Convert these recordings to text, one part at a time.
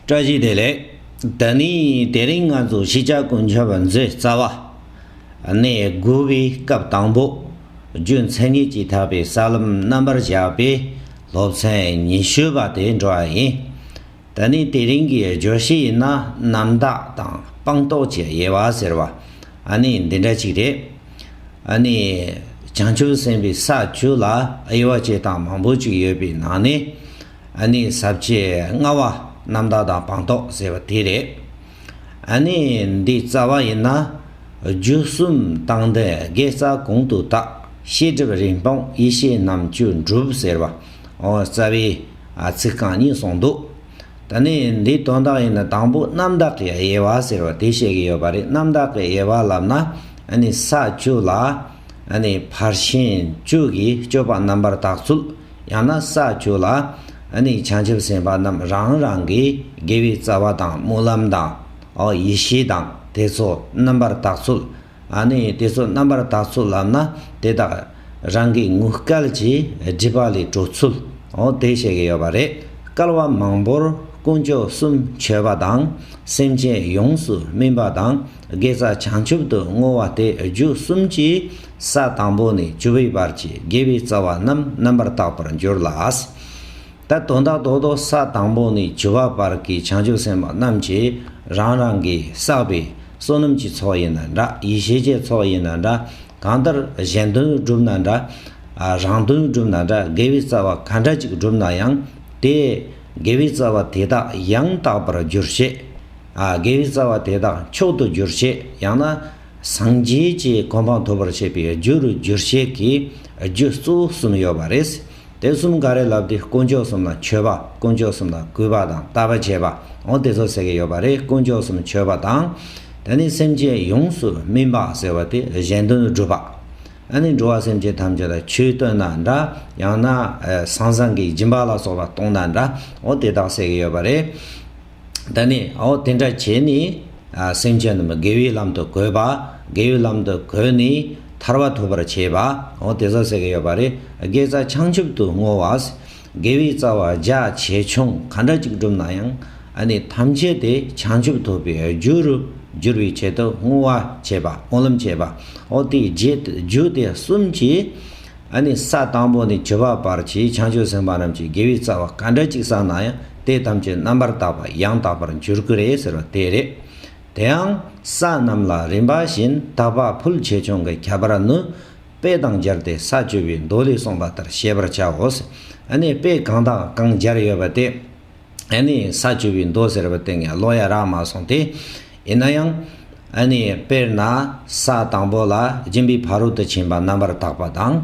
བཀྲ་ཤིས་བདེ་ལེགས། ད་ནི་དེ་རིང་ང་ཚོ་གཞིས་ཆགས་དཀོན་མཆོག་པ་མཛོད་རྩ་བ་ནས་རྒོལ་བའི་སྐབས་དང་པོ་རྒྱུ་མཚན་ངེས་ཀྱིས་དག་པའི་ས་ལམ་རྣམ་པར་བཞག་པའི་སློབ་ཚན་ཉི་ཤུ་པ་དེ་འགྲོ་བ་ཡིན། ད་ནི་དེ་རིང་གི་བརྗོད་གཞི་ཡིན་ན་རྣམ་དག་དང་སྤངས་རྟོགས་ཀྱི་དབྱེ་བ་ཟེར་བ་ནི་འདི་འདྲ་ཅིག་རེད། ནི། བྱང་ཆུབ་སེམས་དཔའི་ས་བཅུ་ལ་དབྱེ་བ་བྱེད་སྟངས་མང་པོ་ཅིག་ཡོད་པའི་ནང་ནས། ཨ་ནི་ཟབ་ཆོས་ལྔ་བ་རྣམ་དག་དང་སྤངས་རྟོགས་ཟེར་བ་དེ་རེད། ཨ་ནི་འདི་རྩ་བ་ཡིན་ན། རྒྱུ་གསུམ་དང་ལྡན་དགེ་རྩ་གོང་དུ་བཏགས་ཤེས་སྒྲིབ་རིང་སྤངས་ཡེ་ཤེས་རྣམ་བཅུ་འགྲུབ་ཟེར་བ་འོ་རྩ་བའི་ཚིག་རྐང་གཉིས་གསུངས་འདུག་ད་ནི་འདི་དོན་དག་ཡིན་ན་དང་པོ་རྣམ་དག་གི་དབྱེ་བ་ཟེར་བ་དེ་བཤད་ཀྱི་ཡོད་པ་རེད་རྣམ་དག་གི་དབྱེ་བ་ལབ་ན་ཨ་ནི་ས་བཅུ་ལ་ཨ་ནི་ཕར་ཕྱིན་བཅུ་གྱི་སྤྱོད་པ་རྣམ་པར་དག་ཚུལ། ཡང་ན་ས་བཅུ་ལ་ནི་བྱང་ཆུབ་སེམས་དཔའ་རྣམས་རང་རང་གི་དགེ་བའི་རྩ་བ་དང་སྨོན་ལམ་དང། ཡེ་ཤེས་དང་དེ་ཚོ་རྣམ་པར་དག་ཚུལ། དེ་ཚོ་རྣམ་པར་དག་ཚུལ་ལམ་ན་དེ་དག་རང་གི་ངུ་སྐལ་གྱི་སྒྲིབ་པ་ལས་གྲོལ་ཚུལ། དེ་བཤད་ཀྱི་ཡོད་པ་རེད། སྐལ་བ་མང་པོར་དཀོན་མཆོག་གསུམ་མཆོད་པ་དང་སེམས་ཅན་ཡོངས་སུ་སྨིན་པ་དང་དགེ་རྩ་བྱང་ཆུབ་ཏུ་བསྔོ་བ་སྟེ་རྒྱུ་གསུམ་གྱིས་ས་དང་པོ་ནས་བཅུ་བའི་བར་གྱི་དགེ་བའི་རྩ་བ་རྣམས་རྣམ་པར་དག་པར་འགྱུར་ལ། ད་དོན་དག་རྡོག་རྡོག་ས་དང་པོ་ནས་བཅུ་བ་བར་གྱི་བྱང་ཆུབ་སེམས་དཔའ་རྣམས་ཀྱི་རང་རང་གིས་བསགས་པའི་བསོད་ནམས་ཀྱི་ཚོགས་ཡིན་ན་འདྲ་ཡེ་ཤེས་ཀྱི་ཚོགས་ཡིན་ན་འདྲ་གང་ལྟར་གཞན་དོན་བསྒྲུབས་ན་འདྲ། རང་དོན་བསྒྲུབས་ན་འདྲ་དགེ་བའི་རྩ་བ་ག་འདྲ་ཅིག་བསྒྲུབས་ན་ཡང་དེས་དགེ་བའི་རྩ་བ་དེ་དག་ཡང་དག་པར་འགྱུར་ཞེས། དགེ་བའི་རྩ་བ་དེ་དག་མཆོག་ཏུ་འགྱུར་ཞེས་ཡང་ན། སངས་རྒྱས་ཀྱི་གོ་འཕང་ཐོབ་པར་བྱེད་པའི་རྒྱུ་རུ་སྒྱུར་བྱེད་ཀྱི་རྒྱུ་གཙོ་བོ་གསུམ་ཡོད་པ་རེད། དེ་གསུམ་ག་རེ་ལབ་དུས་དཀོན་མཆོག་གསུམ་ལ་མཆོད་པ་དཀོན་མཆོག་གསུམ་ལ་གུས་པ་དང་བལྟ་བ་བྱེད་པའང་དེ་ཚོ་ཟེར་གྱི་ཡོད་པ་རེད་དཀོན་མཆོག་གསུམ་མཆོད་པ་དང། དེ་ནས་སེམས་ཅན་ཡོངས་སུ་སྨིན་པ་ཟེར་བ་དེ་གཞན་དོན་སྒྲུབ་པ། དེ་ནས་འགྲོ་བ་སེམས་ཅན་ཐམས་ཅད་ལ་ཆོས་སྟོན་ན་འདྲ་ཡང་ན་ཟང་ཟིང་གི་སྦྱིན་པ་ལ་སོགས་པ་གཏོང་ན་འདྲའང་དེ་དག་ཟེར་གྱི་ཡོད་པ་རེད། ད་ནི་འོ་དེ་འདྲ་བྱས་ནས་སེམས་ཅན་རྣམས་དགེ་བའི་ལམ་དུ་གོལ་བ། དགེ་བའི་ལམ་དུ་གོལ་ནས་ཐར་བ་ཐོབ་པར་བྱེད་པ། འོ་དེ་ཟག་ཟེར་གྱི་ཡོད་པ་རེད། དགེ་རྩ་བྱང་ཆུབ་ཏུ་བསྔོ་བ། དགེ་བའི་རྩ་བ་རྒྱ་ཆེ་ཆུང་གང་འདྲ་ཅིག་བསྒྲུབས་ན་ཡང་ཨ་ནི་ཐམས་ཅད་དེ་བྱང་ཆུབ་ཐོབ་པའི་རྒྱུ་རུ་འགྱུར་བའི་ཆེད་དུ་བསྔོ་བ་བྱེད་པ་བསྔོ་ལམ་བྱེད་པ། འོ་དེའི་རྒྱུ་དེ་གསུམ་གྱིས། ཨ་ནི་ས་དང་པོ་ནས་བྱེ་བ་བར་གྱི་བྱང་ཆུབ་སེམས་དཔའ་རྣམས་ཀྱི་དགེ་བའི་རྩ་བ་ག་འདྲ་ཅིག་བསགས་ན་ཡང་དེ་ཐམས་ཅད་རྣམ་པར་དག་པ་ཡང་དག་པར་འགྱུར་གྱི་རེད་ཟེར་བ་དེ་རེད། དེའང་ས་རྣམས་ལ་རིམ་པ་བཞིན་དག་པ་ཕུལ་ཆེ་ཆུང་གི་ཁྱད་པར་ནི། དཔེ་དང་སྦྱར་ཏེ་ས་བཅུ་པའི་མདོ་ལས་གསུངས་པ་ལྟར་ཤེས་པར་བྱའོ། ཨ་ནི་དཔེ་གང་དང་གང་སྦྱར་ཡོད་པ་དེ། ཨ་ནི་ས་བཅུ་པའི་མདོ་ཟེར་བའི་སྟེང་ནས་ཀློག་ཡ་རག་མ་སོང་སྟེ། ཡིན་ན་ཡང། ཨ་ནི་དཔེར་ན་ས་དང་པོ་ལ་སྦྱིན་པའི་ཕ་རོལ་ཏུ་ཕྱིན་པ་རྣམ་པར་དག་པ་དང།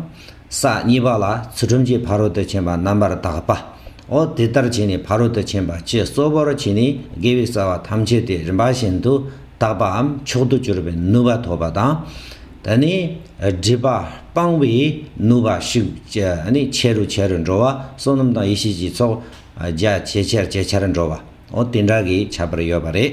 ས་གཉིས་པ་ལ་ཚུལ་ཁྲིམས་ཀྱི་ཕ་རོལ་ཏུ་ཕྱིན་པ་རྣམ་པར་དག་པའོ། དེ་ལྟར་བྱས་ནས་ཕ་རོལ་ཏུ་ཕྱིན་པ་སྤྱི་གཙོ་བོར་བྱས་ནས་དགེ་བའི་རྩ་བ་ཐམས་ཅད་དེ་རིམ་པ་བཞིན་དུ་དག་པའམ་མཆོག་ཏུ་གྱུར་པའི་ནུས་པ་ཐོབ་པ་དང། ད་ནི་སྒྲིབ་པ་སྤང་བའི་ནུས་པ་ཤུགས་ཆེ་རུ་ཆེ་རུ་འགྲོ་བ་བསོད་ནམས་དང་ཡེ་ཤེས་ཀྱི་ཚོགས་རྒྱ་ཇེ་ཆེར་ཇེ་ཆེར་འགྲོ་བའོ་དེ་འདྲ་གི་བྱ་བར་ཡོད་པ་རེད།